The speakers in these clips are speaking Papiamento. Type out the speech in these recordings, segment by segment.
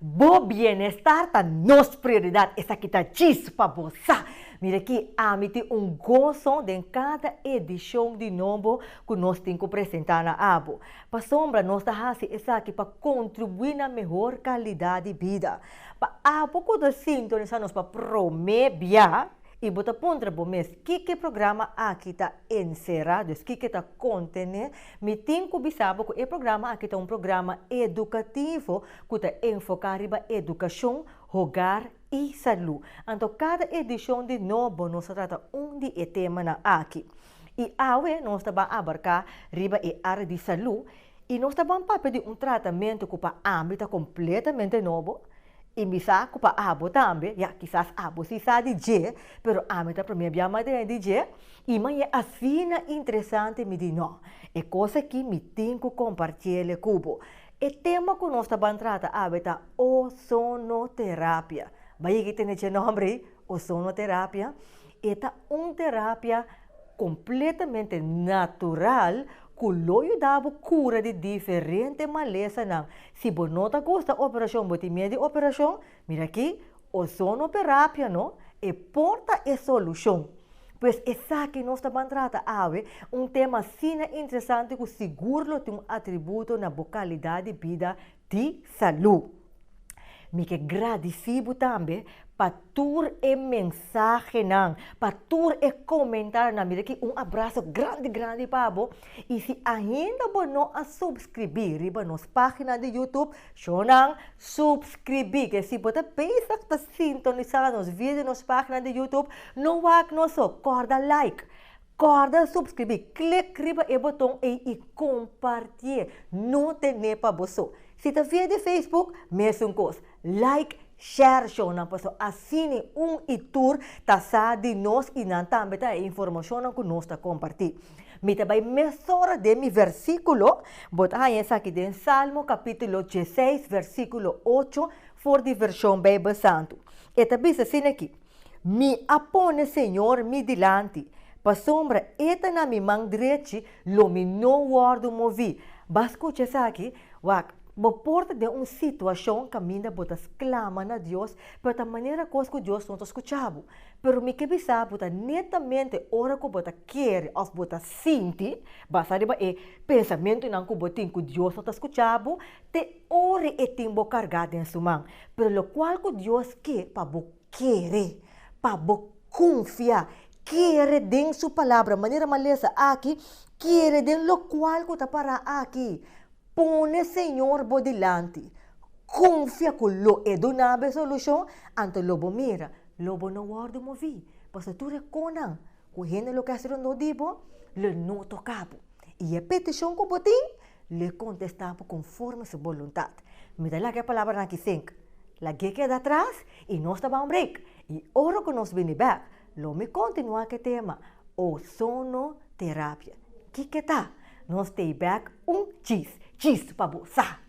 Bo bienestar ta nos prioridad, esaki ta djis pa bo sa! Mira aki, ami tin un goso den cada edicion di Nombo cu nos tin cu presenta na abo. Pasobra nos ta haci esaki pa contribui na mehor calidad di bida. Pa abo cu ta sintonisa nos pa prome bia, I bo ta puntra bo mes, Kiko programa aki ta enserá, dus kiko ta kontené? Mi tin ku bisa bo ku e programa aki ta un programa edukativo ku ta enfoká riba edukashon, hogar i salú. Anto kada edishon di No bo nos ta trata un di e temanan aki. I awe nos ta ban abarká riba e área di salú. I nos ta ban papia di un tratamentu ku pa ami ta kompletamente nobo, i mi sa ku pa abo tambe, ya, kisas abo si sa di dje, pero ami ta promé bia madrina di dje, i manera asina interesante mi di no, e kos aki mi tin ku kompartiele ku bo. E tema ku nos ta ban trata awe ta Ozonoterapia. Bai yega i tene dje nòmber ei, Ozonoterapia. E ta un terapia kompletamente natural ku lo yuda bo kura di diferente malesanan. Si bo no ta gusta operashon, bo tin miedu di operashon, mira aki, ozonoterapia no e por ta e solushon. Pues esaki nos ta ban trata awe, un tema asina interesante ku sigur lo tin un atributo na bo kalidat di bida. di salú. Mi ke gradisí bo tambe pa tur e mensahenan, pa tur e komentarnan. Mi ta kiri un abraso grandi grandi pa bo. I si ainda bo no a supskribí riba nos página di YouTube, shò nan supskribí. Ke si bo ta bezig ta sintonisá nos video, nos página di YouTube, no wak nos so, kòrda like. Kòrda supskribí, klik riba e boton ei i kompartié, no ten'é pa bo so. Si ta via di Facebook, mesun kos, like, share shownan paso asini un i tur ta sa di nos i nan tambe ta e informashonnan ku nos ta kompartí. Mi ta bai mesora den mi versíkulo, bo ta haña esaki den Salmo kapítulo dieseis, versíkulo ocho for di Vershon Beibel Santu. E ta bisa asina aki, Mi a pone Señor mi dilanti, pasobra E ta na mi man drechi, lo mi no wòrdu moví. B'a skucha esaki? Wak, bo por ta den un situashon kaminda bo ta sklama na Dios, pero ta manera kos ku Dios no ta skucha bo. Pero mi ke bisa bo ta netamente ora ku bo ta kere òf bo ta sinti, basa riba e pensamentunan ku bo tin ku Dios no ta skucha bo, Te ore e tin bo carga den su man. Pero locual cu Dios ke pa bo kere, pa bo confia, kere den su Palabra, manera m'a lesa aki, kere den locual cu ta para aki, pone Señor bo dilanti, confia cu lo e duna bo e solucion, anto lo bo mira, lo bo no wordo movi, pasobra tur e conan cu hende lo kes rondó di bo lo no toca bo. I e petishon ku bo tin, lo e kontestá bo konforme su boluntat. Mi ta laga e palabranan aki sink, Lag'é keda atras i nos ta ban break, i ora ku nos bini bèk, lo mi kontinuá ku e tema Ozonoterapia. Kiko e ta? Nos t'ei bèk un chis! Chis pa bo! Sa!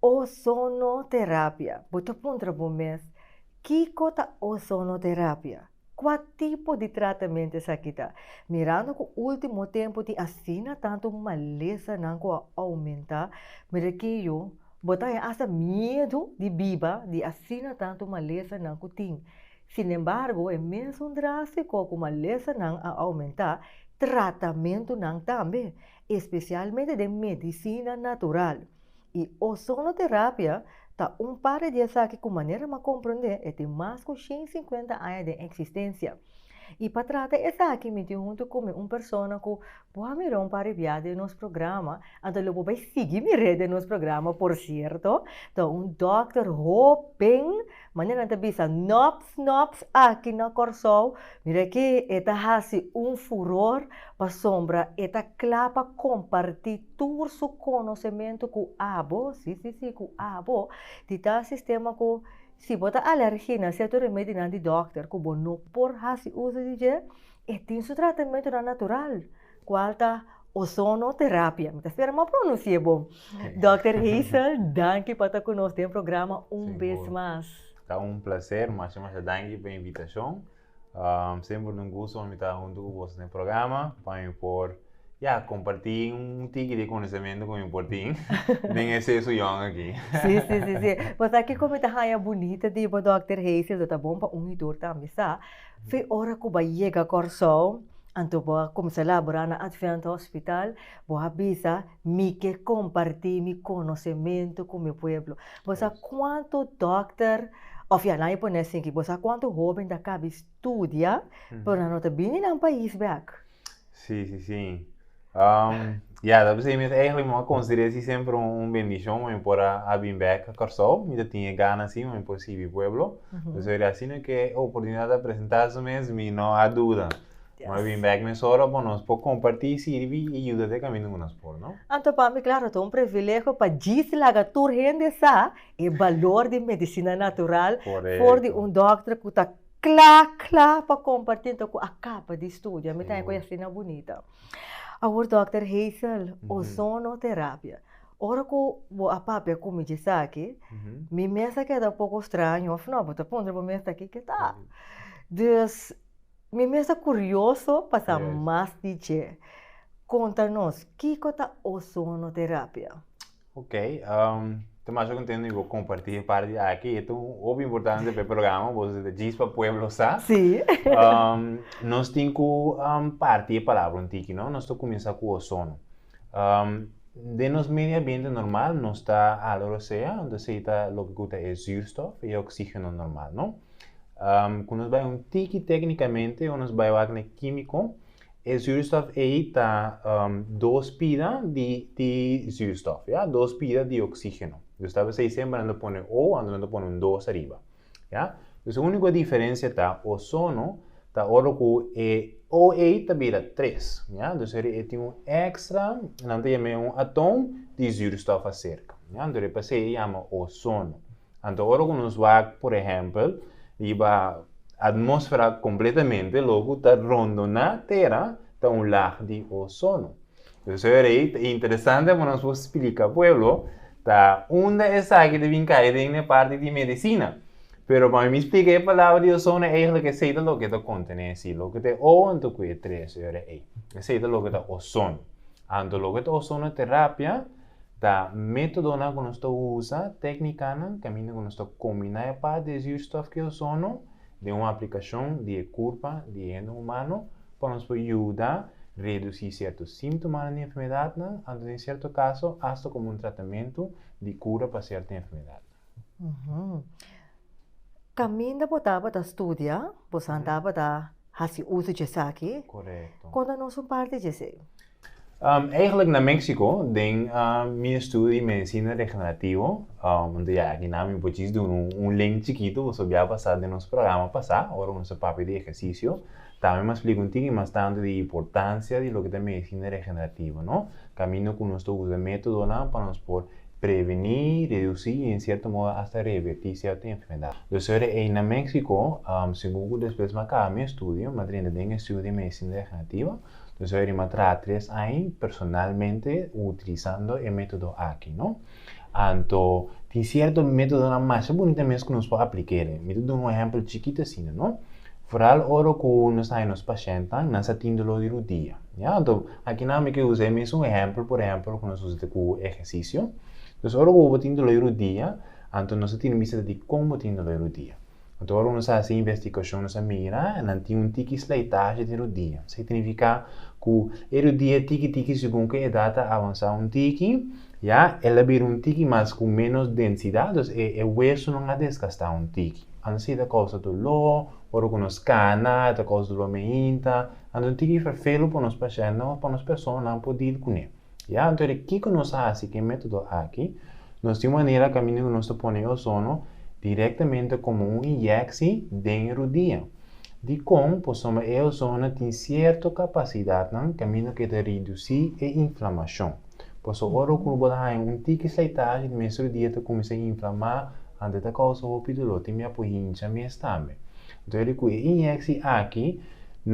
Ozonoterapia. Bo ta puntra bo mes, Kiko ta ozonoterapia? Kua tipo di tratamente esaki ta? Mirando ku último tempu tin asina tantu malesanan ku a oumentá, mirakí yu bo ta haña asta miedu di biba di asina tantu malesanan ku tin. Sinembargo, e mesun drástiko ku malesanan a oumentá, tratamentunan tambe. especialmente den medicina natural. Y ozonoterapia ta un parti di esaki cu manera m'a comprende e tin mas cu shen y cincuenta aña den existencia. Y pa trata esaki mi tin hunto cu mi un persona cu bo a mira un parti bia den nos programa, anto lo bo bay sigui mire den nos programa por cierto, ta un dokter hopen. Manera nan ta bisa, Nops, nops, aki na Kòrsou, mira ke e ta hasi un furor pasobra e ta kla pa kompartí tur su konosementu ku abo, sí, sí, sí, ku abo, di tal sistema ku si bo ta alèrgi na sierto remedinan di dòkter ku bo no por hasi uso di dje, e tin su tratamentunan natural. Cual ta ozonoterapia. Mi ta spera bo a pronuncia bo. Dokter Hazel, danki pa ta cu nos den programa un bes mas. Ta un placer. Masha masha danki pa e invitacion. Semper ta un gusto pa mi ta hunto cu boso den programa pa mi por ya comparti un tiki di conocemento cu mi por tin den e sesu yòn aki. Si, si, si. Pasobra kico mi ta haña bunita di bo, Dokter Hazel, lo ta bon pa un y dor tambe sa. Fe ora ku bo yega Kòrsou, anto bo a kumsa labora na Advent Hospital, bo a bisa, Mi ke kompartí mi konosementu ku mi pueblo. Bo sa kuantu dòkter, òf ya, nan a pone asin aki, bo sa kuantu hóben ta kabi studia, pero nan no ta bini nan pais bèk? Sí, sí, sí. Um, ya, dat besei mes eigenlijk me considerar si sempre un, un bendición me por a, a bin back a Curaçao. Me dat tinha gana si, me por sibi pueblo. Mm -hmm. So, así no que oportunidad a presentar su mes, me no a duda. Yes. Maar bin back mes ora por nos por compartir, sirvi y ayuda de camino que nos por, no? Anto para mí, claro, es un privilegio para gis laga tur gente sa e valor de medicina natural Correcto. voor de un dokter que ta Kla kla pa kompartí nto ku a kaba di studia, mi ta haña ku e asina bunita. Awor dòkter Hazel, ozonoterapia. Ora ku bo a papia ku mi di esaki, mi mes a keda un poko straño òf nò, bo ta puntra bo mes aki ke ta. Dus, mi mes ta kurioso pa sa mas di dje. Konta nos, kiko ta ozonoterapia? Ok, um, te masha contento bo comparti e par di aki. E un hopi importante pe programa, bo se de Gis pa Pueblo sa. Si. Um, nos tin ku um, parti e palabra un tiki, no? Nos to comienza ku ozono. Um, de nos medio ambiente normal no sta aloro sea, onde se ta lo ku ta e zuurstof e oxígeno normal, no? Um, ku nos bai un tiki técnicamente, o nos bai wak ne químico, E zuurstof ei ta um, dos pida di, di zuurstof, ya, dos pida di oxígeno. Dus ta besei semper nan ta pone O, anto nan ta pone un dos ariba. Ya? Dus e único diferencia ta ozono ta ora ku e O ei ta bira tres. Ya? Dus e e tin un extra, nan ta yam'e un atom di zuurstof acerca. Ya? Anto e pasei e yama ozono. Anto ora ku nos wak, por ehèmpel, riba atmósfera kompletamente, loku ta rondoná Tera ta un lag di ozono. Profesor ei ta interesante pa nos por splika pueblo ta unda esaki ta bin kai den e parti di medisina. Pero pa mi splika e palabra di ozono eigelik esei ta loke ta kontené si loke ta e o anto ku e tres ora ei. Esei ta loke ta ozono. Anto loke ta ozonoterapia? Ta métodonan ku nos ta usa, téknikanan, kaminda ku nos ta kombiná e part di e zuurstof ku e ozono den un aplikashon di e kurpa di e hende humano pa nos por yuda redusí sierto síntomanan di enfermedatnan anto den sierto kaso asta komo un tratamentu di kura pa sierto enfermedatnan. Kaminda bo tabata studia, boso a tabata hasi uso di esaki. Korekto. Konta nos un parti di esei. Eigenlijk na Mexico den mi estudio di medicina regenerativo, anto ya aki nan mi por djis duna un link chikito, boso bia basa den nos programa pasá ora boso ta papia di ehersisio. Tambe mi a splika un tiki mas tantu di importansia di loke ta medicina regenerativo, no? Kaminda ku nos ta usa e métodonan pa nos por prevení, redusí i en sierto modo asta revertí sierto enfermedad. Los ora ei na Mexico, segun ku despues mi a kaba mi estudio, mi a drenta den e estudio di medicina regenerativo, Nos a oir Matra tres ai personalmente utilisando e método aki, no? Anto tin sierto métodonan masha bunita mes ku nos por apliká e. Mi ta duna un ehèmpel chikit asina, no? Foral ora ku nos ta haya nos pashèntnan, nan sa tin doló di rudia, ya. Anto aki nan mi ke usa e mesun ehèmpel, por ehèmpel, ku nos usa ku ehersisio. Entonces, ora ku bo tin doló di rudia, anto nos a tira bista di kon bo tin doló di rudia. Anto ora nos a hasi investigashon nos a mira nan tin un tiki slijtashi den rudia. Esei ta nifiká ku e rudia tiki tiki segun ku e edat ta avansá un tiki, ya, el a bira un tiki mas ku ménos densidat, dus e e wesunan a desgastá un tiki. Anto esei ta kousa duló, ora ku nos kana e ta kousa duló meinta. Anto un tiki ferfelu pa nos pashèntenan òf pa nos personanan por dil kuné. I anto di kiko nos ta hasi ku e método aki? Nos tin manera kaminda ku nos ta pone e ozono direktamente komo un inyèksi den e rudia. Dikon? Pasobra e ozono tin sierto kapasidatnan kaminda ku e ta redusí e inflamashon. Paso ora ku bo ta haña un tiki slijtashi di mes rudia ta kuminsá inflamá, anto e ta kousa hopi doló, tin mia por hincha mes tambe. Anto di ku e inyèksi aki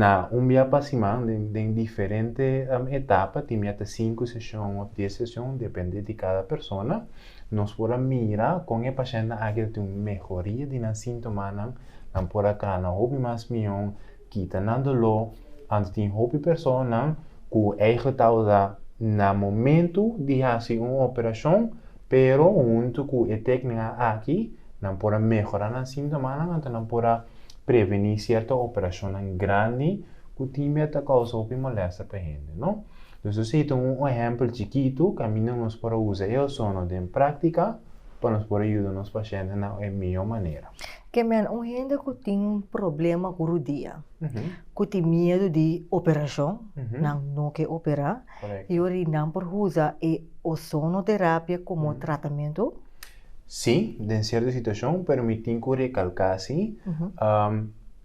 Na un bia pa siman, den den diferente etapa, tin bia ta sinku seshon òf dies seshon, depende di kada persona, nos por a mira kon e pashèntnan aki ta tin un mehoria di nan síntomanan. Nan por a kana hopi mas mion, kita nan doló. Anto tin hopi personanan ku eigelik ta usa na momentu di hasi un operashon. Pero huntu ku e téknikanan aki nan por a mehorá nan síntomanan anto nan por a prevení sierto operashonnan grandi ku tin mia ta kousa hopi molèsta pa hende. No nos lo sey ta un ehèmpel chikitu kaminda nos por a usa e ozono den práktika pa nos por a yuda nos pashentenan e mihó manera. Ke men un hende ku tin un problema ku rudia ku tin miedu di operashon nan no ke operá? Y ori nan por usa e ozonoterapia como tratamentu? Sí, den cierto situacion, pero mi tin cu recalca si,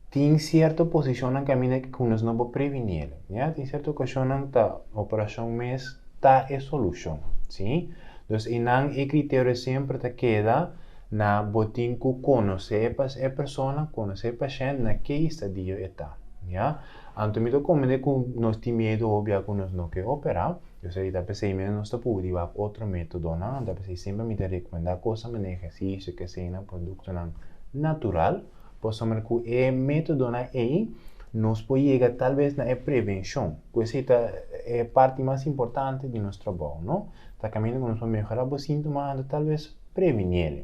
tin cierto posicionnan caminda cu nos no por previni el. Ya, tin cierto ocasionnan ta operacion mes ta e solucion. Sí. Dus y nan e criterio siempre ta keda na bo tin cu conoce e persona, conoce e pashent na ke estadio e ta. Ya. Anto mi ta komende ku nos tin miedu obia ku nos no ke opera, yo sei ta p'esei mester nos ta pubi riba otro metodonan, ta p'esei semper mi ta rekomendá kosa manera ehersisio, keseina, produktonan natural, pasobra ku e metodonan ei nos por yega talves na e prevenshon, ku esei ta e parti mas importante di nos trabou, no? Ta kaminda ku nos por mehorá bo síntomanan anto talves previniel.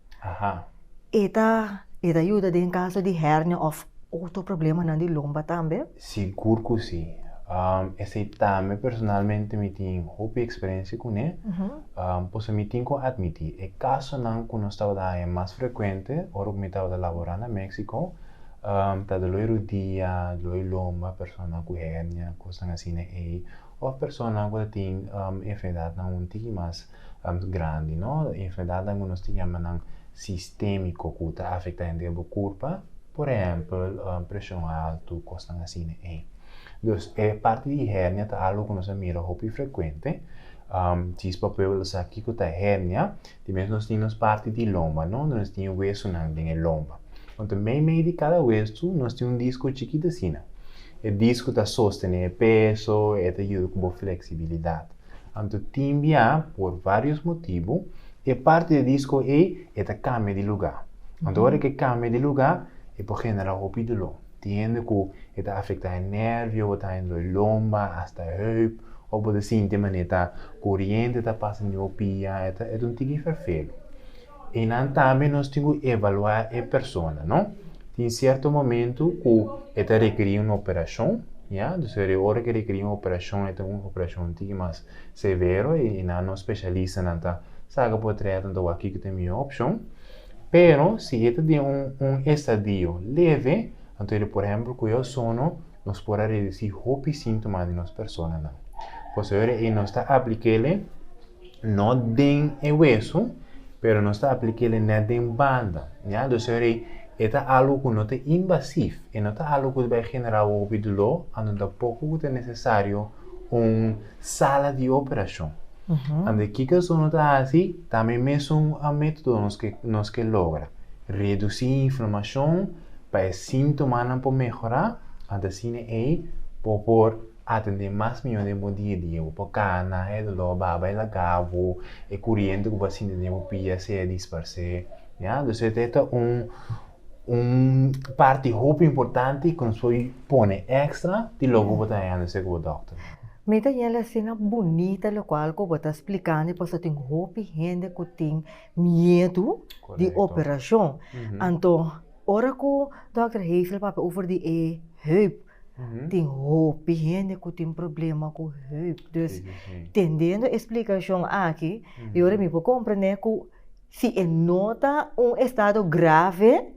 Aha. E ta e ta yuda den caso di hernia of otro problemanan di lomba tambe? Sigur cu si. Esey tambe personalmente mi tin hopi experiencia cune. Pasobra mi tin cu admiti, e casonan cu nos tabata haña mas frecuente ora cu mi tabata labora na Mexico, ta doloi rudia, doloi lomba, personanan cu hernia, cosnan asina ey, of personanan cu ta tin enfermedadnan un tiki mas. grandi, no? Enfermedadnan ku nos ta yama nan sistémiko ku ta afektá hende den bo kurpa, por ehèmpel, preshon altu, kosnan asina ei. Dus e parti di hernia ta algu ku nos a mira hopi frekuente. Si es pa pueblo sa kiko ta hernia, di mes nos tin nos parti di lomba, no? Nos tin e wesunan den e lomba. Konta meimei di kada wesu nos tin un disko chikit asina. E disko ta sostené e peso, e ta yuda ku bo fleksibilidat. Anto tin bia, por vários motibu, e parti di disko ei e ta kambia di lugá. Anto ora ku e kambia di lugá, e por generá hopi doló. Tin hende ku e ta afektá e nervio, bo ta haña doi lomba, asta heup, òf bo ta sinti manera ta koriente ta pasa na bo pia, e ta un tiki ferfelu. I nan tambe nos tin ku evaluá e persona, no? Tin sierto momentu ku e ta rekerí un operashon, ya. Dus e ora ku e rekerí un operashon e ta un operashon un tiki mas severo i nan nos spesialistanan ta saga por trea tenta wak kiko ta e mihó opshon. Pero si e ta den un un estadio leve, anto e por ehèmpel ku e ozono, nos por a redusí hopi síntomas di nos personanan. Pasobra e nos ta apliká el e. No den e wesu, pero nos ta aplikéle nèt den banda. Ya, dus a rei, e ta algu ku no ta invasif, e no ta algu ku ta bai generá hopi duló, anto tampoco ku ta nesesario un sala di operashon. Ande kiko so no ta hasi? Ta mi mesun un método nos ke nos ke logra, redusí inflamashon pa e síntomanan por mehorá, ante asina ei por por. a tende mas mió den bo dia dia. Bo por kana e dolor baba e laga bo, e curiente cu bo a sinti den bo pia se a disparse. Ya, entonces e ta e un un parti hopi importante cu nos por pone extra di loke bo ta haña na ser bo doctor. Mi ta yel asina bunita locual cu bo ta splicando y pasobra tin hopi hende cu tin miedu di operacion. Anto ora cu Doctor Hazel papia over di e heup Tin hopi hende ku tin problema ku heup. Dus, tendiendo e splikashon aki, e ora mi por komprende ku si e no ta un estado grave,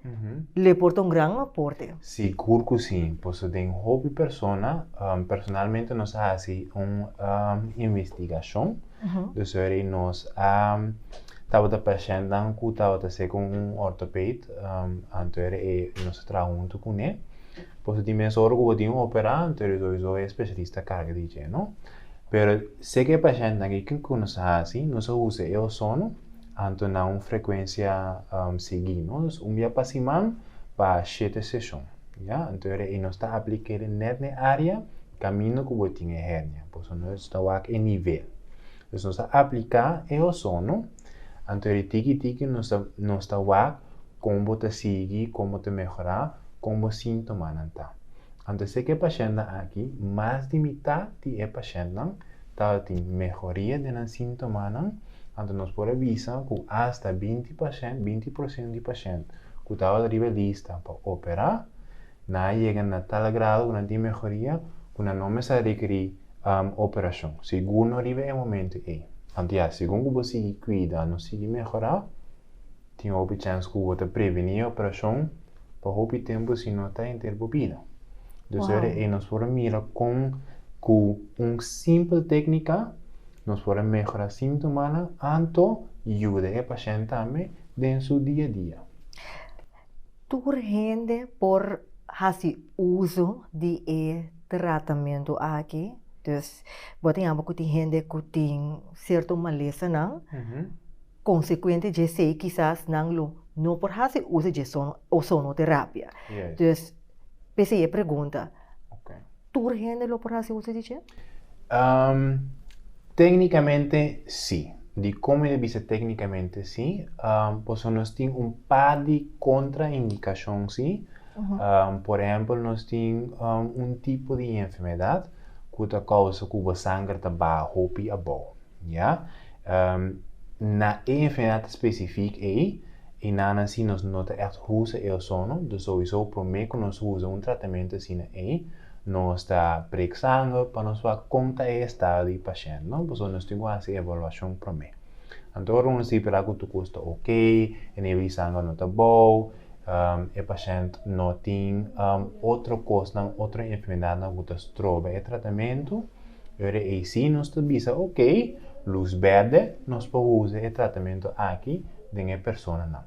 lo por ta un gran aporte. Sigur ku si. Pasobra den hopi persona, personalmente nos a hasi un investigashon, dus e ora ei nos a tabata pashentenan ku tabata ser ku un ortoped, anto ora ei nos a traha huntu kuné. Por eso tin mes ora cu bo tin un operante ori so y so e specialista carga di dje, no? Pero si eke pacientenan aki kin cu nos a haci? Nos a usa e ozono anto na un frecuencia sigui, no? Dus un bia pa siman pa shete sesion, ya? Anto era y nos ta aplica ere net n'e area caminda cu bo tin e hernia, por eso nos ta wak e nivel. Dus nos a aplica e ozono. Anto di tiki tiki nos ta nos ta wak kon bo ta sigui, kon bo ta mehorá, kon bo síntomanan ta. Anto sek e pashèntnan aki, mas di mitat di e pashèntnan tabatin mehoria den nan síntomanan, anto nos por a bisa ku asta binti pashènt, binti porsiento di pashènt ku tabata riba e lista pa operá, nan a yega na tal grado ku nan tin mehoria ku nan no mester a rekerí operacion segundo riba e momento ey. Anto ya, segun cu bo sigui cuida, no sigui mehora, tin hopi chens cu bo ta preveni e operacion pa hopi tempo si no ta henter bo bida. Dos Wow. ora ey nos por a mira con cu un simpel tecnica nos por a mehora sintomanan anto yuda e pashent tambe den su dia a dia. Tur hende por haci uso di e. tratamentu aki, dus bo tin abo ku tin hende ku tin sierto malesanan, konsekuente dje esei kisas nan lo no por hasi usa dje ozonoterapia. Dus p'esei e pregunta, tur hende lo por hasi usa di dje? Téknikamente sí. Di komo mi ta bisa téknikamente sí? Pasobra nos tin un par di kontraindikashon sí. Por ehempel, nos tin un tipo di enfermedad cu ta causa cu bo sanger ta baha hopi abao. Ya. Na e enfermedad especific ey, e nanan si nos no ta echt usa e ozono, dus sowiso prome cu nos usa un tratamento asina ey, nos ta breek sanger pa nos wak con ta e estado di e pashent, no? Pasobra nos tin cu haci e evaluacion prome. Anto ora nos di para cu tur cos ta ok, e nivel di sanger no ta bao, e pashènt no tin otro kosnan, otro enfermedadnan ku ta stroba e tratamentu, ora eysi nos ta bisa ok, lus bèrdè, nos por usa e tratamentu aki den e personanan.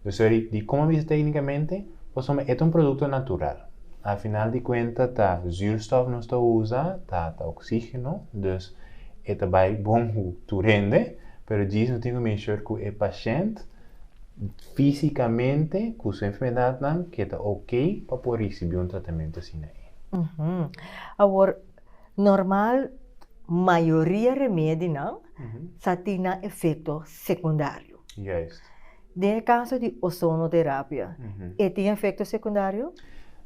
Dus ora di como a bisa téknikamente, pasobra e ta un produkto natural. A final di kuenta ta zuurstof nos ta usa, ta oksígeno, dus e ta bai bon ku tur hende, pero djis no tin ku make sure ku e pashènt, Físikamente ku su enfermedadnan ke ta ok pa por risibí un tratamentu asina ei. Awor, normal mayoria remedinan sa tin nan efekto sekundario. Den e kaso di ozonoterapia, e tin efekto sekundario?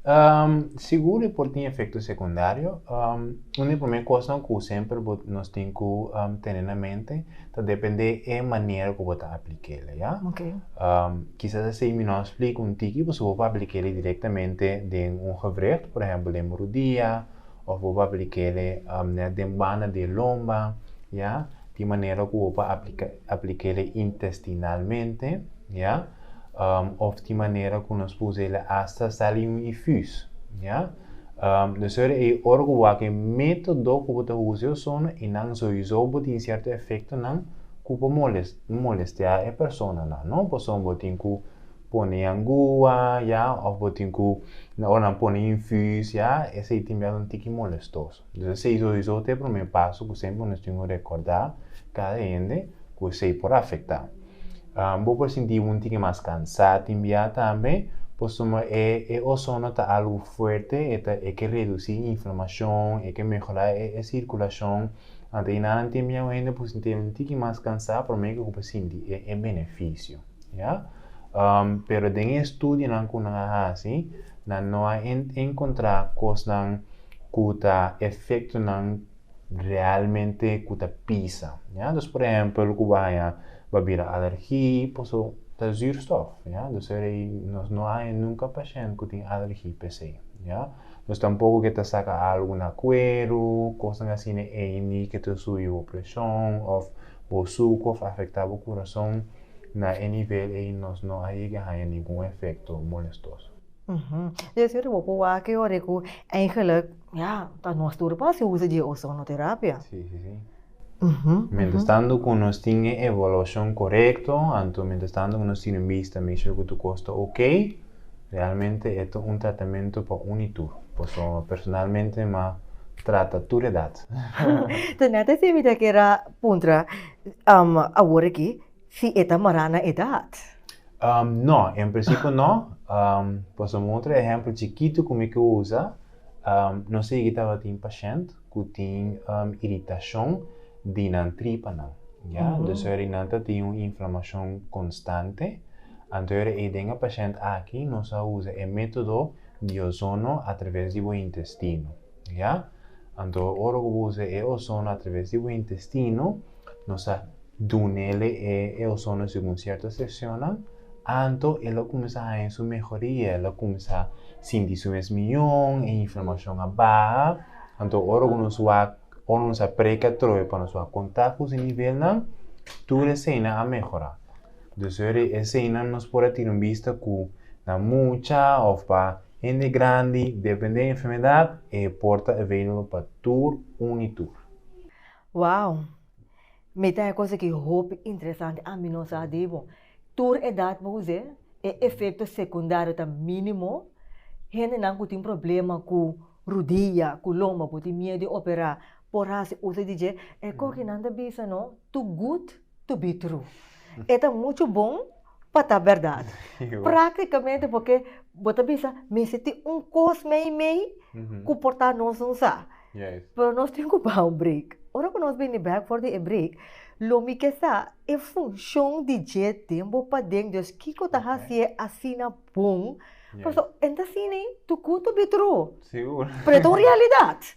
Um, sigur e por tin efecto secundario. Um, un di primer cosnan cu semper bo, nos tin cu um, tene na mente ta depende e manera cu bo ta aplicele, ya? Ok. Um, quizás así mi no a splica un tiki, pasobra bo pa aplicele directamente den un gewricht, por ejemplo den bo rodia, of bo pa aplicele um, net den banda di e lomba, ya? Tin manera cu bo pa aplica, aplicele intestinalmente, ya? Of tin manera cu nos usa el hasta sali un ifus. Ya? Nos ta ora ey ora cu bo haci e metodo cu bo ta usa e osono y nan soizo bo tin cierto efectonan cu por molestea e personanan, no? Pasobra bo tin cu pone yangua, ya, of bo tin cu na ora nan pone infus, ya, esey tin biaha ta un tiki molestoso. Entonces esey soizo ta e prome paso cu semper nos tin cu recorda cada hende cu esey por afecta. Bo por sinti un tike mas kansá tin biaha tambe, pasobra e ozono ta algu fuerte, e ke redusí inflamashon, e ke mehorá e sirkulashon. Anto i nan tin biaha hende por sinti un tike mas kansá, pero mi ke ku bo sinti e benefisio. Ya. Pero den e studionan ku nan a hasi, nan no a enkontrá kosnan ku ta efektonan. realmente ku ta pisa. Ja? Dus por ehempel ku bo haña ba bira alergi paso ta zuurstof. Ja? Dus er ei nos no haña nunka pashènt ku tin alergi p'esei. Ja? Dus tampoko ke ta saka algu na kueru, kosnan asina ei ni ke ta subi bo preshon òf bo suku òf afektá bo kurason. Na e nivel ei nos no a yega haña ningun efekto molestoso. Di asina bo por wak e ora ku eigenlik Ya, pa nos tur por hasi uso dje ozonoterapia. Sí, sí, sí. Mientras tanto cu nos tin e evaluacion corecto, anto mientras tanto cu nos tin un bista mi shor cu tu cos ta ok, realmente e ta un tratamento pa un y tur. Paso personalmente m'ha trata tur edad. Tene ta esempio ta keda puntra awor aki. Si e ta mará na edat? No, en prinsipio no. Pasobra un otro ehèmpel chikitu ku mi ke usa, nos a higi tabatin pashènt ku tin iritashon di nan tripanan, ya. Dus ora di nan ta tin un inflamashon konstante. Anto ora ei den e pashènt aki nos a usa e método di ozono atraves di bo intestino. Ya. Anto ora ku bo usa e ozono atraves di bo intestino, nos a dun'ele e e ozono segun sierto sesionnan, anto el a kuminsá haña su mehoria, el a kuminsá sinti su mes mió, e inflamashon a baha. Anto ora ku nos wak, ora nos a preka atrobe pa nos wak kontak ku su nivelnan, tur e seinnan a mehorá. Despues di e seinnan nos por a tira un bista ku na mucha òf pa Hende grandi dependé e enfermedad e por ta available pa tur un y tur. Wow! Mi ta e cosa ki hopi interesante ami no sa di bo. Tur edad bo us'é, e efecto secundario ta minimo, hendenan cu tin problema cu rudilla, cu lomba, bo tin miedo di opera, por haci uso di dje. E coginan ta bisa no, too good. to be true. E ta mucho bon pa ta berdad. Práktikamente porque bo ta bisa mester tin un kos meimei ku por ta nos un sa. Pero nos tin ku baha un break. Ora ku nos bini bèk for di e break, lo mi ke sa e funshon di dje den bo paden Dios. Kiko ta hasié asina bon? Pasobra e ta siña tukun to be true, pero e ta un realidat.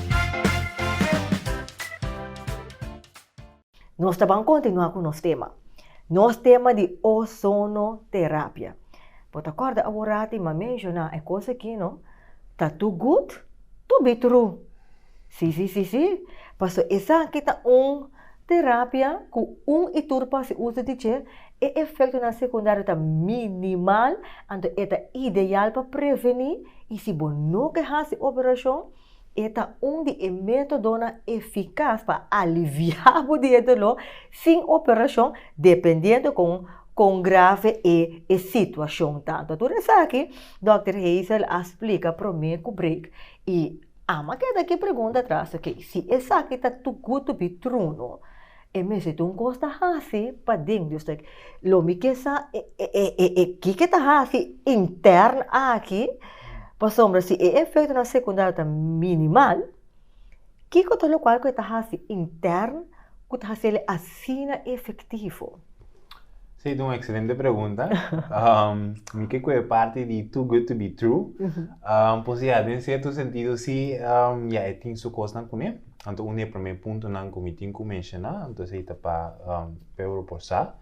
Nos ta ban kontinuá ku nos tema. Nos tema di ozonoterapia. Bo ta kòrda awor ti m'a menshoná e kos aki, no? Ta tur gud? Tur bitru? Sí, sí, sí, sí. Paso esaki ta un terapia ku un i tur por hasi uso di dje, e efektonan sekundario ta minimal, anto e ta ideal pa prevení i si bo no ke hasi operashon, E ta un di e métodonan efikas pa aliviá bo di e doló sin operashon, dependiendo kon kon grave e e situashon ta. Ta tur esaki dòkter Hazel a splika promé ku Breek i Ama keda ki pregunta atras, oke, si esaki ta tu gud tu bitrunu, E mes e tun kos ta hasi pa den di ustek. Lo mi ke sa e kiko e ta hasi interno aki, pasobra si e efektonan sekundario ta minimal, kiko ta lokual ku e ta hasi interno ku ta hasi el asina efektivo? Si, e ta un ekselente pregunta. Mi ke ku e parti di too good to be true. Por si ya, den sierto sentido si, ya e tin su kosnan kuné. Anto un di e promé puntonan ku mi tin ku menshoná, anto esei ta pa Peuro por sa.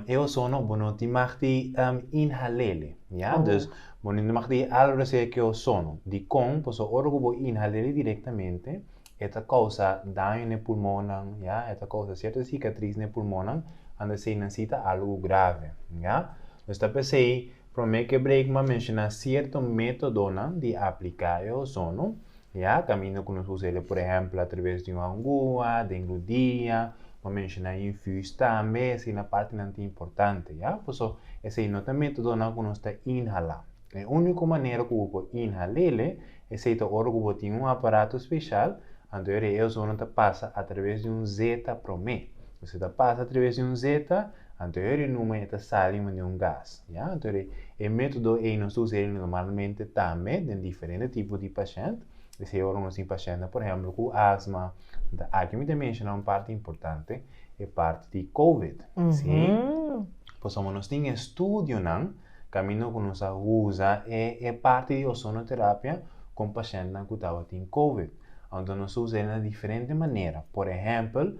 E ozono bo no tin mag di inhal'é, ya. Dus bo no tin mag di algo reseke ku e ozono. Dikon? Pasobra ora ku bo inhal'é direktamente e ta kousa daño na e pulmonnan, ya. E ta kousa sierto sikatris na e pulmonnan, anto esei nan si ta algo grave, ya. Dus ta p'esei. Promé ke Brakema a menshoná sierto métodonan di apliká e ozono, ya, kaminda ku nos usa el e por ehèmpel atraves di un angúa, den rudia, bo a menshoná infús tambe, esei na partinan ta importante, ya. Pasobra esei no ta métodonan ku nos ta inhalá. E úniko manera ku bo por inhal'ele, esei ta ora ku bo tin un aparato speshal, anto e ozono ta pasa atraves di un zeta promé. Esei ta pasa atraves di un zeta, Antoeri e numen e ta sali manera un gas. Ya. Antoeri e metodo ei nos ta usa el normalmente tambe den diferente tipo di pashent. Esei ora nos tin pashentnan, por ehempel, ku asma. Nta aki mi ta menshoná un parti importante, e parti di covid. Sí. Pasobra nos tin e studionan kaminda ku nos a usa e e parti di ozonoterapia kon pashentnan ku tabatin covid. Anto nos ta usa el na diferente manera. Por ehempel.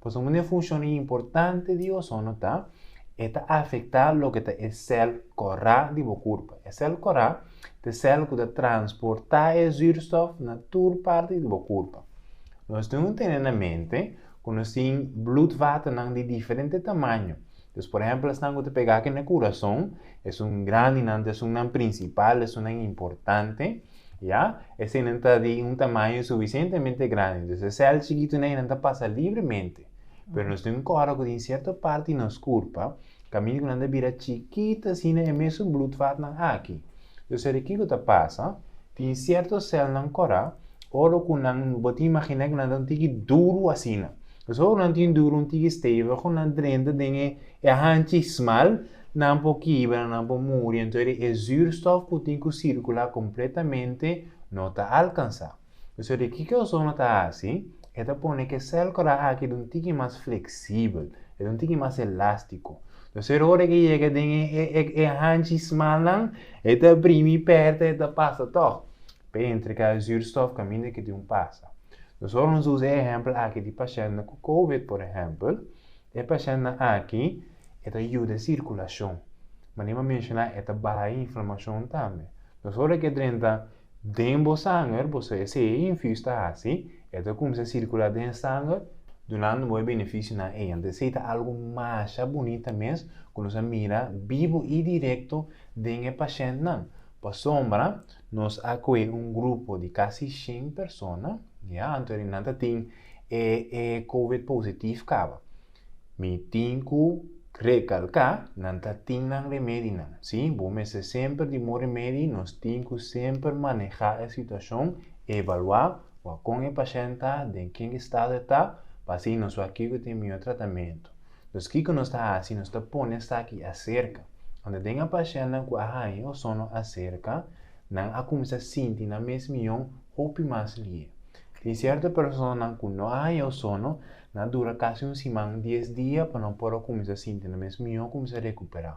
Pasobra un di e funshonnan importante di ozono ta e ta afektá loke ta e sèl kòrá di bo kurpa. E sèl kòrá ta e sèl ku ta transportá e zùrstòf na tur parti di bo kurpa. Nos tin ku tene na mente ku nos tin blut-waternan di diferente tamaño. Dus por ehèmpel esnan ku ta pegá ke na kurason, esun grandinan, ta esunnan prinsipal, esunnan importante, ya, eseinan ta di un tamaño suficientemente grandi, dus e sèl chikitunan einan ta pasa libremente. Pero nos tin ku ora ku tin sierto parti di nos kurpa, kaminda ku nan ta bira chikit asina e mesun blutvatnan aki. Dus seri kiko ta pasa? Tin cierto celnan cora oro cu nan no bo ta imagina cu nan ta un tiki duro asina. Pues oro nan ta un duro un tiki stevigo nan drenta den e hanchi smal nan por kibra nan por muri entori e zuurstof cu tin cu circula completamente no ta alcansa. Pues ori kiko ozono ta haci? E ta pone cu e cel cora aki ta un tiki mas flexible e ta un tiki mas elastico. Entonces ora ke yega den e hanchi smannan e ta brimi pèrta e ta pasa tòg p'e entre ka zuurstof kaminda ke di un pasa. Entonces ora nos usa e ehèmpel aki di pashèntnan ku covid por ehèmpel, e pashèntnan aki e ta yuda sirkulashon, manera mi a menshoná e ta baha e inflamashon tambe. Entonces ora ke drenta. Den bo sanger, boso esei e infus ta hasi, e ta kumsa sirkula den sanger, dunando bo e benefisio nan ei. Anto esei ta algu masha bunita mes ku nos a mira bibu i direkto den e pashentnan. Pasobra nos a kohe un grupo di kasi shen persona, ya, anto nan ta tin e e covid positif kaba. Mi tin cu recalca, nan ta tin nan remedinan, si bo mester semper di bo remedi, nos tin cu semper maneha e situacion, evalua wak con e pashent ta, den ken estado e ta, pa así nos wak kico ta e mihor tratamento. Dus kico nos ta haci, nos ta pone esaki acerca, unda den a pashentnan cu a haña ozono acerca, nan a cuminsa sinti nan mes mion hopi mas lihe. Tin cierto personanan cu no a haña ozono, Nan a dura kasi un siman, dies dia pa nan por a kuminsá sinti nan mes mihó, kuminsá rekuperá.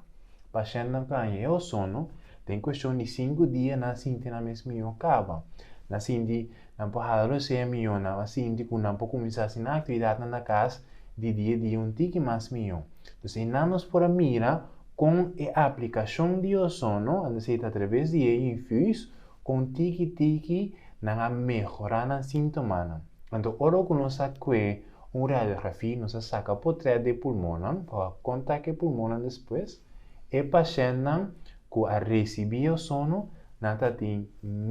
Pashentenan ta haña e ozono, den kueshon di sinku dia nan a sinti nan mes mihó kaba. Nan a sinti nan por hala rosea mihó, nan a sinti ku nan por kuminsá hasi nan aktividatnan na kas di dia e dia un tiki mas mihó. Entonces einan nos por a mira kon e aplikashon di ozono, anto esei ta atraves di e infuus Kon tiki tiki nan a mehorá nan síntomanan. Anto ora ku nos a kue un radiografia, nos a saka potrèt di e pulmonnan pa wak kon ta ke pulmonnan despues. E pashèntnan ku a risibí ozono nan ta tin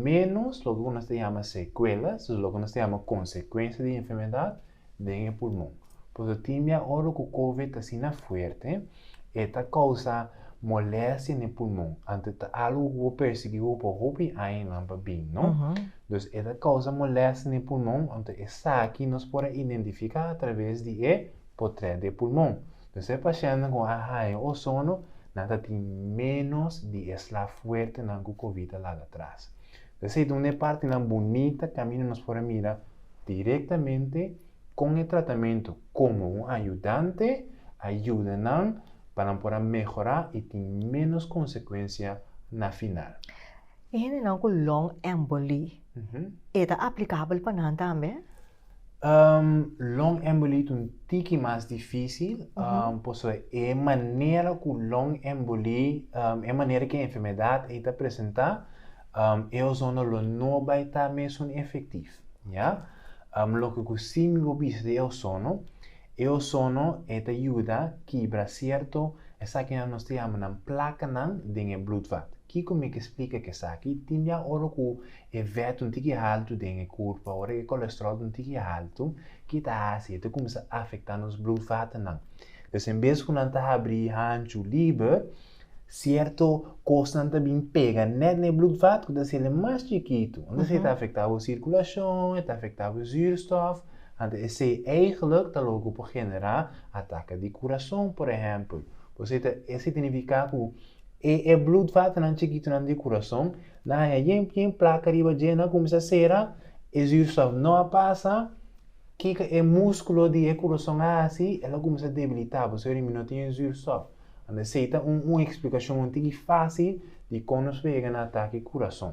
ménos loke ku nos ta yama sekuelas, loke ku nos ta yama konsekuensia di e enfermedat. den e pulmon. Puesto tin dia ora cu covid ta asina fuerte, e ta causa molestia n'e pulmon. Ante ta algo cu bo percibi cu pa hopi añanan pa bin, no? Dus e ta causa molestia n'e pulmon, anto esaki nos por a identifica atraves di e potret di e pulmon. Dus e pacientnan cu a haya ozono nan ta tin menos di e sla fuertenan cu covid a laga atras. Esey ta un di e partinan bunita caminda nos por a mira direktamente kon e tratamentu komo un ayudante a yuda nan pa nan por a mehorá i tin ménos konsekuensia na final. E hendenan ku long emboli, e ta aplikabel pa nan tambe? Long emboli ta un tiki mas difísil, pasobra e manera ku long emboli, e manera ku e enfermedat ei ta presentá, um, e ozono lo no bai ta mesun efektif, ya? Um, loke ku si mi bo bisa di e ozono, e ozono e ta yuda kibra sierto esakinan nos ta yama nan plakanan den e blutvat. Kiko mi ke splika ku esaki? Tin dia ora ku e vèt un tiki haltu den e kurpa, ora e kolestròl ta un tiki haltu, ke ta hasi? E ta kuminsá afektá nos blutvatnan. Des en bes ku nan ta habri hanchu liber, Sierto kosnan ta bin pega nèt na e blùdvat ku ta hasi el e mas chikitu. Anto esei ta afektá bo sirkulashon, e ta afektá bo zùrstòf, anto esei eigentlik ta loke ku por generá atake di kurason, por ehèmpel. Por esei ta esei ta nifiká ku e e blùdvatnan chikitunan di kurason na haña yen yen plaka riba dje, nan kuminsá sera, e zùrstòf no a pasa. Kiko e múskulo di e kurason a hasi? El a kuminsá debilitá, pasobra mi no tin zùrstòf. A nesesita un un eksplikashon un tiki fásil di kon nos por yega na atake kurason.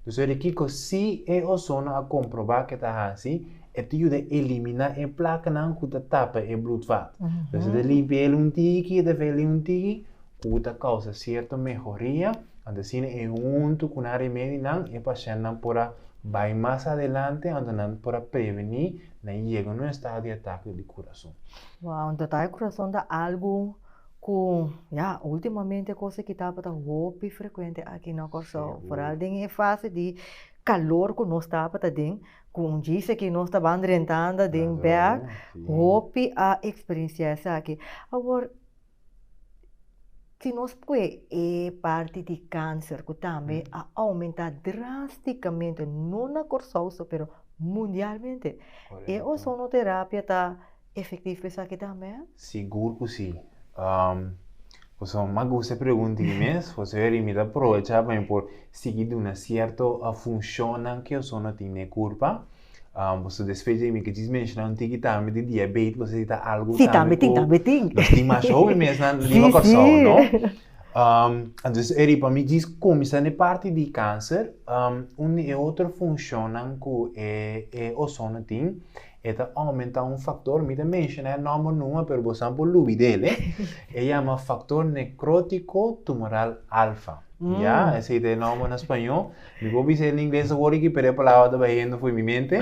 Nos ta di kiko si e ozono a komprobá ku e ta hasi, e ta yuda eliminá e plakanan ku ta tapa e blùdvat. Nos ta limpia el un tiki, e ta veli un tiki, ku ta kousa sierto mehoria, anto asina e huntu ku nan remedionan e pashèntnan por a bai mas adelante, anto nan por a prevení nan yega na un estado di atake di kurason. Wow, un tata e kurason ta algu ku ya ultimamente kos aki tabata hopi frekuente aki na Kòrsou, foral den e fase di kalor ku nos tabata den, ku un djis aki nos ta ban rentanda den bèk, hopi a eksperensiá esaki. Awor, Si nos pue e parti di kanser ku tambe a oumentá drástikamente, no na Kòrsou so pero mundialmente. E ozonoterapia ta efektivo pa esaki tambe? Sigur ku si. Pasobra mi a gusta e pregunta aki mes, pasobra mi ta aprovechá pa mi por sigui duna sierto funshonnan ku e ozono tin na e kurpa. Um, boso después de mi que jis mencionar un tiki tambe di diabetes, boso necesita algo sí, tambe tin, tambe tin. Los tin más joven mes na lima corsao, no? Um, entonces, eri pa mi jis comienza ne parte di cáncer, um, un e otro funcionan cu e, e ozono tin, eta aumenta un factor, mi te menciona nombre numa, pero boso por lubidele, e eh? llama factor necrótico tumoral alfa, mm. ya? Ese es el nombre en español. Mi por bisa e na ingles awor aki, pero e palabra ta bahiendo fo'i mi mente.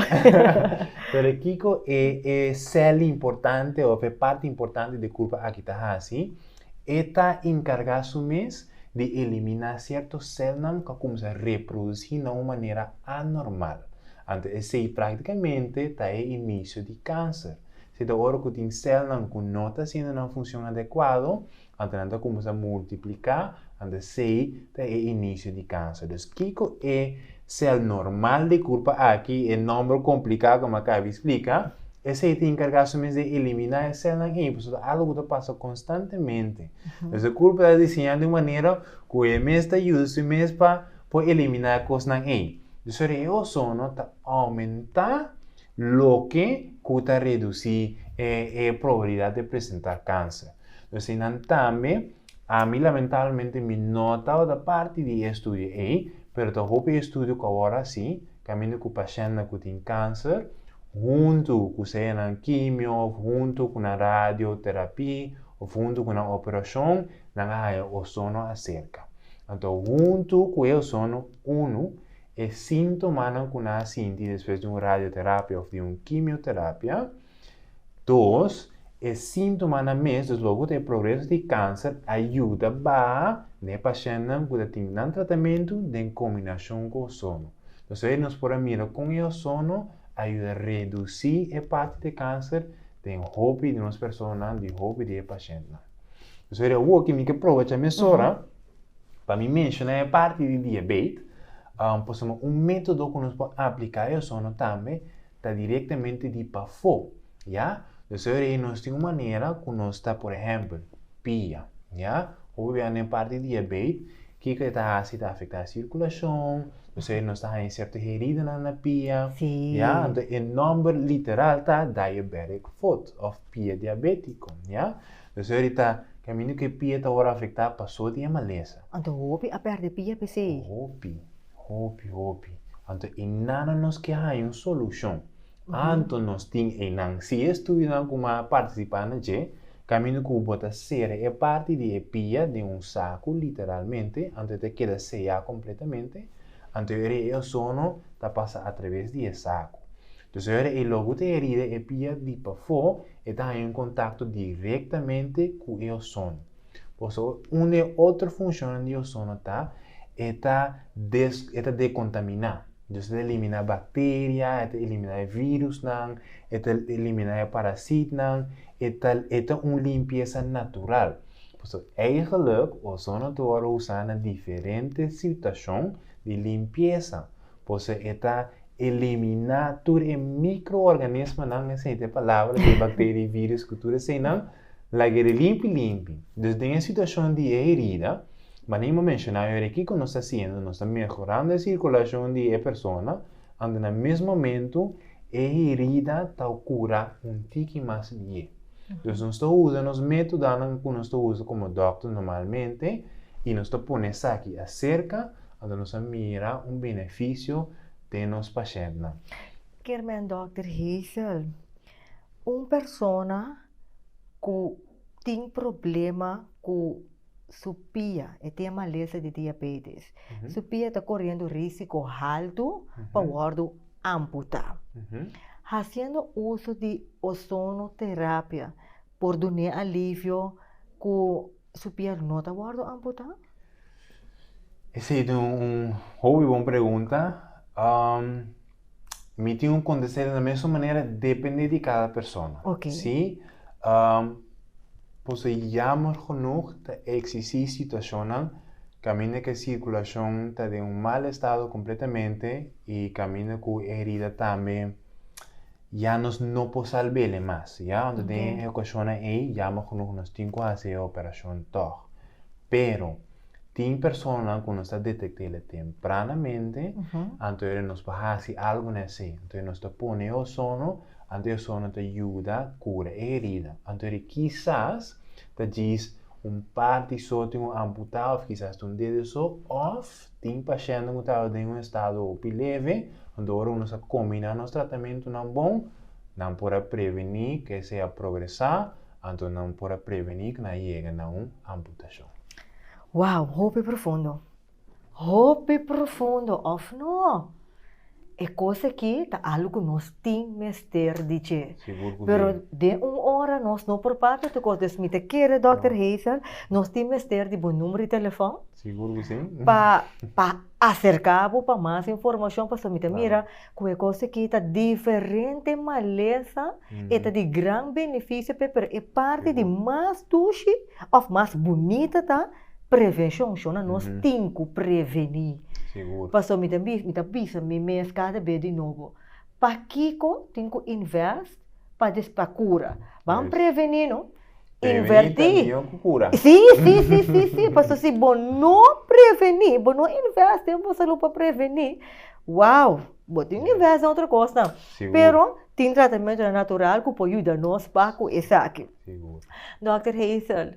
pero kiko e, e cel importante of e parti importante di e kurpa aki ta hasi? E ta enkargá su mes di eliminá sierto celnan ku a kumsa reprodusí na un manera anormal. Anto esei práktikamente ta e inisio di kanser. Seta ora ku tin celnan ku no ta hasiendo nan funshon adekuado, Anto nan ta cuminsa multiplica, anto esey ta e inicio di cancer. Dus kico e cel normal di curpa aki, e nomber complica cu mi a caba di splica? Esey ta encarga su mes di elimina e celnan ey, pasobra ta algo cu ta pasa constantemente. Dus e curpa ta diseña di un manera cu e mes ta yuda su mes pa por elimina e cosnan ey. Dus ora e ozono ta aumenta, Loke ku ta redusí e e probabilidat di presentá kanser. Asina tambe, ami lamentablemente mi no tabata parti di e estudio ei, pero ta hopi estudio ku a wòrdu hasi kaminda ku pashèntnan ku tin kanser, huntu ku seyanan kimio òf huntu ku nan radioterapí òf huntu ku nan operashon, nan a haña ozono aserka. Anto huntu ku e ozono unu. E síntomanan ku nan a sinti despues di un radioterapia òf di un kimioterapia. Dos, e síntomanan mes deslogu ta e progreso di kanser a yuda baha na e pashèntnan ku ta tin nan tratamentu den kombinashon ku ozono. Nos ta wet nos por a mira kon e ozono a yuda redusí e parti di e kanser den hopi di nos personanan, di hopi di e pashèntnan. Nos ta wet di awor kimin ke proba cha mesora. Pa mi menshoná e parti di diabet, por sama un método ku nos por apliká e osono tambe ta direktamente di pafó, ya. Pues ora ei nos tin un manera ku nos ta, por ehèmpel, pia, ya. Ku bo biaha na e parti di diabet, kiko e ta hasi? Ta afektá e sirkulashon, pues ora ei nos ta haña sierto heridanan na pia, ya. Anto e nòmber literal ta diabetic foot òf pia diabétiko, ya. Lo seri ta camindu cu e pia ta ora afecta paso di e maleza. Anto hopi a perde pia p'esey? Hopi, hopi, hopi. Anto e nana nos ke haña un solucion. Anto nos tin eynan. Si e estudinan cu m'a participa na dje, camindu cu bo ta sera e parti di e pia den un sacu, literalmente, anto e ta keda seya completamente, anto e reiozono ta pasa a traves di e sacu. Tu señora e lo cu ta herida e pia di pafó e ta haña un contacto directamente cu e ozono. Por eso un di e otro funcionnan di ozono ta e ta e ta decontamina, dus e ta elimina bacteria, e ta elimina e virusnan, e ta elimina e parasitnan, e ta e ta un limpiesa natural. Por eso eigenlijk ozono ta wordo usa na diferente situacion di limpiesa. Por se e ta eliminá tur e mikroorganismonan, esente e palabra di e bakteria i vírùs ku tur eseinan, laga e limpi limpi. Dus den e situashon di e herida, manera bo menshoná awe ora kiko nos ta hasiendo? Nos ta mehorando e sirkulashon di e persona, anto na mes momentu e herida ta kurá un tiki mas bié. Dus nos ta usa nos métodanan ku nos ta usa komo dòkter normalmente i nos ta pone esaki aserka Anto nos a mira un benefisio den nos pashentnan. Kerman Dòkter Hazel, Un persona ku tin problema ku su pia, e tin e malesa di diabetes. Su pia ta koriendo risiko haltu pa wòrdu amputá. Hasiendo uso di ozonoterapia por dun'é alivio ku. su pier no ta wordo amputa? Esey ta un hopi bon pregunta. Um, mi tin un contestar na mesmo manera depende di cada persona. Okay. Si, um, pues jammer genoeg ta existi situacionnan camina que circulacion ta de un mal estado completamente y camina cu herida tambe Ya nos no por salbele mas, ya. Unda den e okashonnan ei yama ku nos tin ku hasi e operashon tòg. Pero, tin personanan ku nos ta detekt'e tempranamente, anto e nos por hasi algu nesei. Anto e nos ta pone e ozono, anto e ozono ta yuda kura e herida. Anto e kisas ta djis un parti so tin un amputá òf kisas ta un dedo so òf. Tin pashiente cu taba den un estado hopi leve, hunto ora cu nos a combina nos tratamentonan bon, nan por a preveni cu esey a progresa anto nan por a preveni cu nan a yega na un amputacion. Wow, hopi profundo! Hopi profundo, of no? E kos aki ta algu ku nos tin mester di dje. Sigur ku si. Pero den un ora nos no por papia tu kos, dus mi ta kere Dòkter Hazel, nos tin mester di bo numero di telefòn. Sigur ku si. Pa pa aserká bo pa mas informashon pasobra mi ta mira ku e kos aki ta diferente malesa, e ta di gran benefisio p'e, pero e parti di mas dushi òf mas bunita ta. prevenshon shona nos tin ku prevení. Sigur. Paso mi ta mi ta bisa mi mes kada be di nobo, pakiko tin ku invest pa des pa kura? Ban Yes. prevení no, Prevení invertí. ta mihó ku kura. Sí, sí, sí, sí, sí, paso si bo no prevení, bo no invest den bo salú pa prevení, wow, bo tin Yes. invest den otro kosnan. Sigur. Pero tin tratamentonan natural ku por yuda nos pa ku esaki. Sigur. Dòkter Hazel.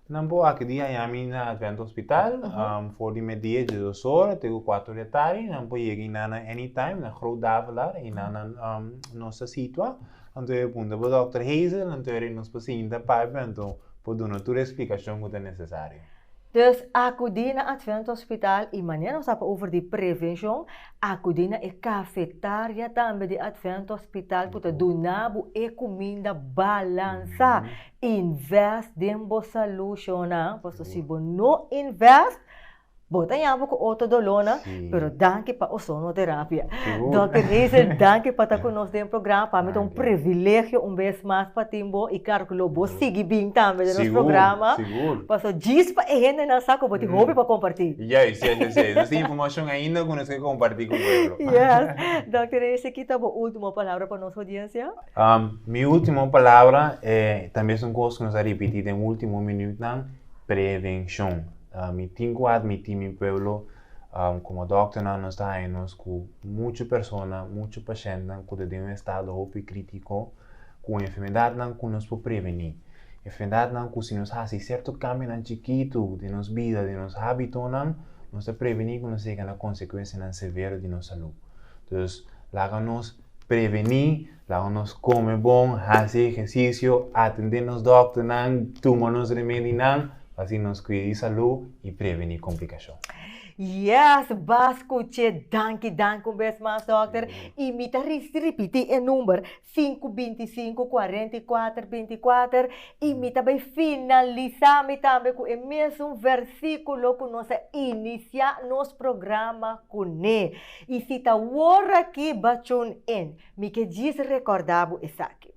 Nan por aki di haña mi na Advent Hospital for di media dje dos ora te ku kuater di atardi. Nan por yega i nan na Anytime, na Groot Davelaar. I nan na nos ta situa. Nan ta wene punta pa Dòkter Hazel, nan ta wene ri nos pasinta papia, nan ta por duna tur esplikashon ku ta nesesario. Dus, akudí na Advent Hospital i manera nos a habra over di prevenshon, akudí na e kafetaria tambe di Advent Hospital ku ta duna bo e kuminda balansá. Invest den bo salud shona paso si bo no invest bo ta yama cu otro dolor nan pero danki pa ozono terapia Doctor Hazel danki pa ta cu nos den programa pa mi ta un privilegio un bes mas pa tin bo y claro cu lo bo sigui bin tambe den nos programa paso djis pa e hendenan sa cu bo tin hopi pa comparti. Juist juist así es nos tin informacion ainda cu nos ke comparti cu pueblo. Yes Doctor Hazel kita bo ultimo palabra pa nos audiencia? Mi último palabra e ta mes un kos ku nos a ripití den último minütnan, prevenshon. Mi tin ku admití mi pueblo, komo dòkternan nos ta haña nos ku muchu persona, muchu pashèntnan ku ta den un estado hopi krítiko, ku enfermedatnan ku nos por prevení. Enfermedatnan ku si nos hasi sierto kambionan chikitu den nos bida, den nos hábitonan, nos ta prevení ku nos yega na konsekuensianan severo di nos salú. Entonces, laga nos Prevení, laga nos kome bon, hasi ehersisio, atendé nos dòkternan, tuma nos remedinan pa así nos kuida di salú i prevení komplikashon. Yes, bas kuch'é! Danki, danki un bes mas dòkter. I mi ta risi ripití e number, sinku binti sinku kuarenta i kuater binti kuater. I mi ta bai finalisá mi tambe ku e mesun versíkulo ku nos a inisiá nos programa kuné. I si ta wor aki ba tune in, mi ke djis recorda bo esaki.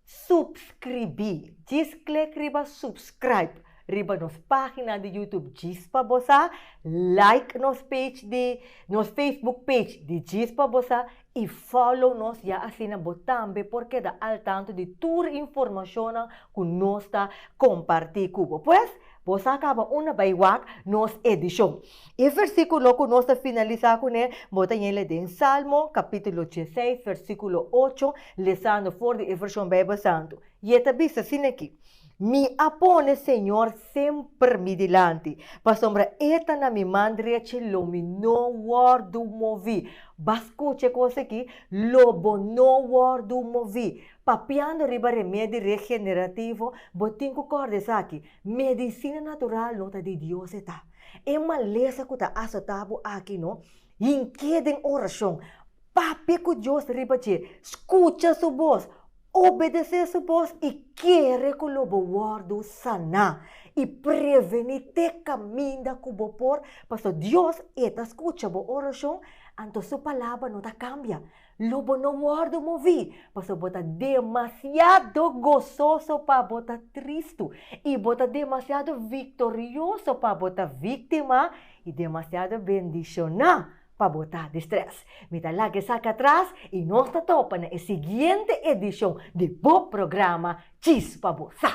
Supscribi, djis click riba subscribe riba nos pagina di YouTube djis pa bo sa, like nos page di nos Facebook page di djis pa bo sa i follow nos ya asina bo tambe por keda al tanto di tur informacionnan cu nos ta comparti cu bo. Pues, bo sa caba una bay wak nos edicion. E versíkulo ku nos ta finalisá kuné bo ta yele den Salmo, kapítulo diesseis, versíkulo ocho, lesando for di e Vershon Beibel Santu. I e ta bisa sin aki, Mi a pone Señor semper mi dilanti, pasobra E ta na mi man drechi, lo mi no wòrdu moví. B'a skucha e kos aki, Lo bo no wòrdu moví. Papiando riba remé di regenerativo, bo tin ku kòrda esaki, Medicina natural no ta di Dios eta. E malesa cu ta asota bo aki no, hink'e den oracion, papia cu Dios riba dje, scucha su voz, obedece su voz y kere cu lo bo wordo sana y preveni te caminda cu bo por, pasobra Dios e ta scucha bo oracion, anto su palabra no ta cambia. Lo bo no wòrdu moví, pasobra bo ta demasiado gososo pa bo ta tristu, i bo ta demasiado viktorioso pa bo ta víktima, i demasiado bendishoná pa bo ta distrés. Mi ta laga esaki atras, i nos ta topa na e siguiente edishon di bo programa Djis pa bo Sa!